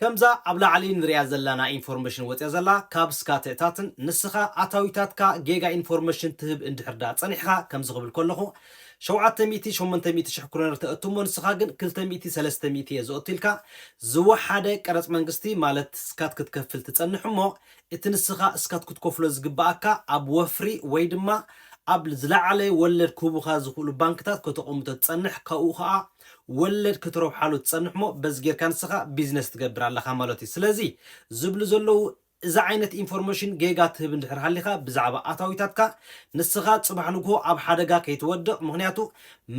ከምዛ ኣብ ላዕሊ ንሪኣ ዘላና ኢንፎርመሽን ወጺኣ ዘላ ካብ ስካትዕታትን ንስኻ ኣታዊታትካ ጌጋ ኢንፎርመሽን ትህብ እንድሕር ድኣ ጸኒሕኻ ከምዚ ክብል ከለኹ ሸውዓተ ሚእቲ ሸሞንተ ሚእቲ ሽሕ ክሮነር ተእቱ እሞ ንስኻ ግን ክልተ ሚእቲ ሰለስተ ሚእቲ እየ ዘእቱ ኢልካ ዝወሓደ ቀረጽ መንግስቲ ማለት ስካት ክትከፍል ትጸንሕ እሞ እቲ ንስኻ ስካት ክትከፍሎ ዝግብኣካ ኣብ ወፍሪ ወይ ድማ ኣብ ዝለዓለ ወለድ ክህቡኻ ዝኽእሉ ባንክታት ከተቐምጦ ትጸንሕ ካብኡ ከኣ ወለድ ክትረብሓሉ ትጸንሕሞ በዚ ጌርካ ንስኻ ቢዝነስ ትገብር ኣለኻ ማለትዩ ስለዚ ዝብሉ ዘለዉ እዚ ዓይነት ኢንፎርመሽን ጌጋ ትህብ እንድሕር ሃሊኻ ብዛዕባ ኣታዊታትካ ንስኻ ጽባሕ ንግሆ ኣብ ሓደጋ ከይትወድቕ ምኽንያቱ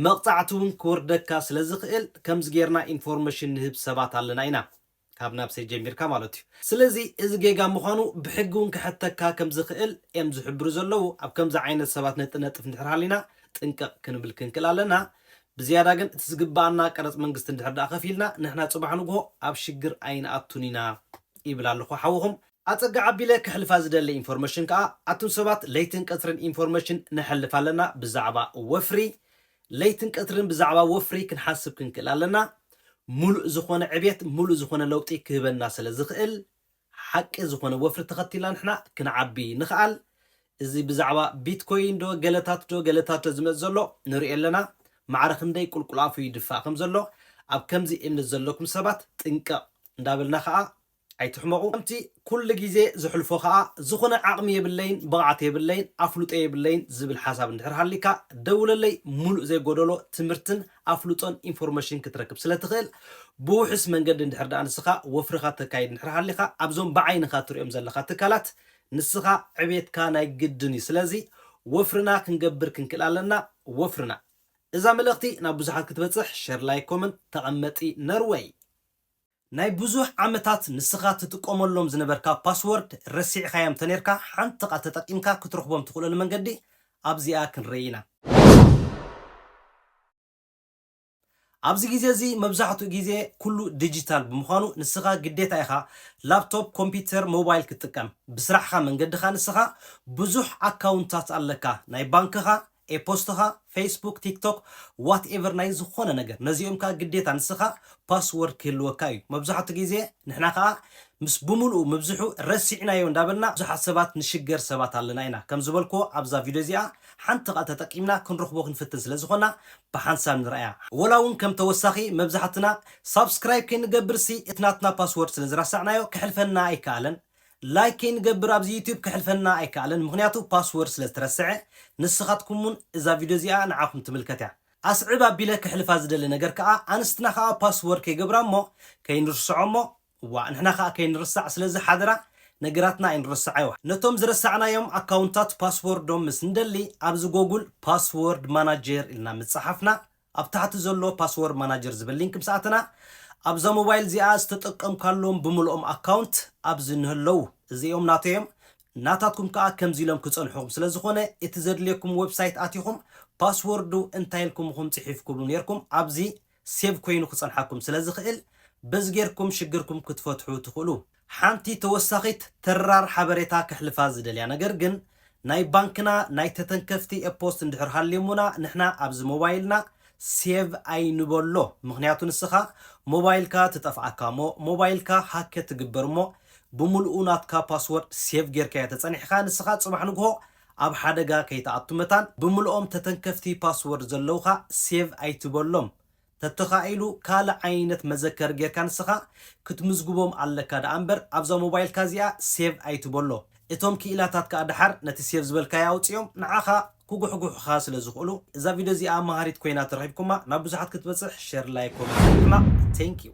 መቕጻዕቲ ውን ክወርደካ ስለዝኽእል ከምዚ ጌርና ኢንፎርመሽን ንህብ ሰባት ኣለና ኢና ካብ ናብሰይ ጀሚርካ ማለት እዩ። ስለዚ እዚ ጌጋ ምዃኑ ብሕጊ እውን ክሐተካ ከም ዝኽእል እየም ዝሕብሩ ዘለዉ። ኣብ ከምዚ ዓይነት ሰባት ነጥነጥፍ እንድሕር ሃሊና ጥንቅቕ ክንብል ክንክእል ኣለና። ብዝያዳ ግን እቲ ዝግበኣና ቀረጽ መንግስቲ እንድሕር ደኣ ከፊልና ንሕና ጽባሕ ንግሆ ኣብ ሽግር ኣይንኣቱን ኢና ይብል ኣለኹ ሓውኹም። ኣጸግዕ ኣቢለ ከሕልፋ ዝደሊ ኢንፎርመሽን ከኣ ኣቱም ሰባት ለይትን ቀትርን ኢንፎርመሽን ነሕልፍ ኣለና ብዛዕባ ወፍሪ ለይትን ቀትርን ብዛዕባ ወፍሪ ክንሓስብ ክንክእል ኣለና። ሙሉእ ዝኾነ ዕብየት ሙሉእ ዝኾነ ለውጢ ክህበና ስለ ዝኽእል ሓቂ ዝኾነ ወፍሪ ተኸቲልና ንሕና ክንዓቢ ንኽኣል። እዚ ብዛዕባ ቢትኮይን ዶ ገለታት ዶ ገለታት ዶ ዝመጽእ ዘሎ ንርእዮ ኣለና። ማዕረ ክንደይ ቁልቁል ኣፉ ይድፋእ ከም ዘሎ ኣብ ከምዚ እምነት ዘለኩም ሰባት ጥንቅቕ እንዳበልና ኸኣ ኣይትሕመቑ ከምቲ ኩሉ ግዜ ዝሕልፎ ከኣ ዝኹነ ዓቕሚ የብለይን ብቕዓት የብለይን ኣፍልጦ የብለይን ዝብል ሓሳብ እንድሕር ሃልይካ ደውለለይ ሙሉእ ዘይጎደሎ ትምህርትን ኣፍልጦን ኢንፎርመሽን ክትረክብ ስለ ትኽእል ብውሕስ መንገዲ እንድሕር ደኣ ንስኻ ወፍርኻ ተካይድ እንድሕር ሃልኻ ኣብዞም ብዓይንኻ ትሪኦም ዘለኻ ትካላት ንስኻ ዕብየትካ ናይ ግድን እዩ ስለዚ ወፍርና ክንገብር ክንክእል ኣለና ወፍርና እዛ መልእኽቲ ናብ ብዙሓት ክትበጽሕ ሸር ላይክ ኮመንት ተቐመጢ ነርወይ። ናይ ብዙሕ ዓመታት ንስኻ ትጥቀመሎም ዝነበርካ ፓስዎርድ ረሲዕካዮም እንተኔርካ ሓንቲ ቃል ተጠቂምካ ክትረኽቦም ትኽእለሉ መንገዲ ኣብዚኣ ክንርእይ ኢና። ኣብዚ ግዜ እዚ መብዛሕትኡ ግዜ ኩሉ ድጂታል ብምዃኑ ንስኻ ግዴታ ኢኻ ላፕቶፕ፣ ኮምፒተር፣ ሞባይል ክትጥቀም። ብስራሕኻ መንገድኻ ንስኻ ብዙሕ ኣካውንታት ኣለካ ናይ ባንክኻ፣ ኤፖስትኻ ፌስቡክ ቲክቶክ ዋት ኤቨር ናይ ዝኾነ ነገር ነዚኦም ከኣ ግዴታ ንስኻ ፓስወርድ ክህልወካ እዩ መብዛሕቱ ግዜ ንሕና ከኣ ምስ ብምልኡ ምብዝሑ ረሲዕናዮ እንዳበልና ብዙሓት ሰባት ንሽገር ሰባት ኣለና ኢና ከም ዝበልክዎ ኣብዛ ቪድዮ እዚኣ ሓንቲ ከኣ ተጠቂምና ክንረኽቦ ክንፍትን ስለ ዝኾና ብሓንሳብ ንርኣያ ወላ ውን ከም ተወሳኺ መብዛሕትና ሳብስክራይብ ከይንገብርሲ እቲ ናትና ፓስወርድ ስለ ዝረሳዕናዮ ክሕልፈና ኣይከኣለን። ላይክ ከይንገብር ኣብዚ ዩቱብ ክሕልፈና ኣይከኣለን ምኽንያቱ ፓስወርድ ስለ ዝተረሰዐ ንስኻትኩም ውን እዛ ቪድዮ እዚኣ ንዓኹም ትምልከት እያ ኣስዕብ ኣቢለ ክሕልፋ ዝደሊ ነገር ከኣ ኣንስትና ከኣ ፓስወርድ ከይገብራ እሞ ከይንርስዖ እሞ ዋእ ንሕና ከኣ ከይንርሳዕ ስለዚ ሓደራ ነገራትና ኣይንረስዓዮ ነቶም ዝረሳዕናዮም ኣካውንታት ፓስወርዶም ምስ ንደሊ ኣብዚ ጎጉል ፓስወርድ ማናጀር ኢልና ምስ ጸሓፍና ኣብ ታሕቲ ዘሎ ፓስዎር ማናጀር ዝብል ሊንክ ምስ ኣተና ኣብዛ ሞባይል እዚኣ ዝተጠቀምካሎም ብምልኦም ኣካውንት ኣብዚ ንህለው እዚኦም ናተይ እዮም ናታትኩም ከኣ ከምዚ ኢሎም ክጸንሑኹም ስለ ዝኾነ እቲ ዘድልየኩም ወብሳይት ኣቲኹም ፓስዎርዱ እንታይ ኢልኩም እኹም ጽሒፍኩሉ ኔርኩም ኣብዚ ሴቭ ኮይኑ ክጸንሓኩም ስለ ዝኽእል በዚ ጌርኩም ሽግርኩም ክትፈትሑ ትኽእሉ። ሓንቲ ተወሳኺት ተራር ሓበሬታ ከሕልፋ ዝደልያ ነገር ግን ናይ ባንክና ናይ ተተንከፍቲ ኤፖስት እንድሕር ሃልዮሙና ንሕና ኣብዚ ሞባይልና ሴቭ ኣይንበሎ ምኽንያቱ ንስኻ ሞባይልካ ትጠፍኣካ እሞ ሞባይልካ ሃከ ትግበር እሞ ብሙሉኡ ናትካ ፓስወርድ ሴቭ ጌርካዮ ተጸኒሕካ ንስኻ ጽባሕ ንግሆ ኣብ ሓደጋ ከይትኣቱ መታን ብሙሉኦም ተተንከፍቲ ፓስወርድ ዘለውኻ ሴቭ ኣይትበሎም ተተኻኢሉ ካልእ ዓይነት መዘከሪ ጌርካ ንስኻ ክትምዝግቦም ኣለካ ደኣ እምበር ኣብዛ ሞባይልካ እዚኣ ሴቭ ኣይትበሎ። እቶም ክኢላታት ከኣ ደሓር ነቲ ሴቭ ዝበልካዮ ኣውጺኦም ንዓኻ ክጉሕጉሑኻ ስለ ዝኽእሉ። እዛ ቪድዮ እዚኣ መሃሪት ኮይና ተረኺብኩማ ናብ ብዙሓት ክትበጽሕ ሸር ላይክ ኮመንት ምሕማቕ Thank you።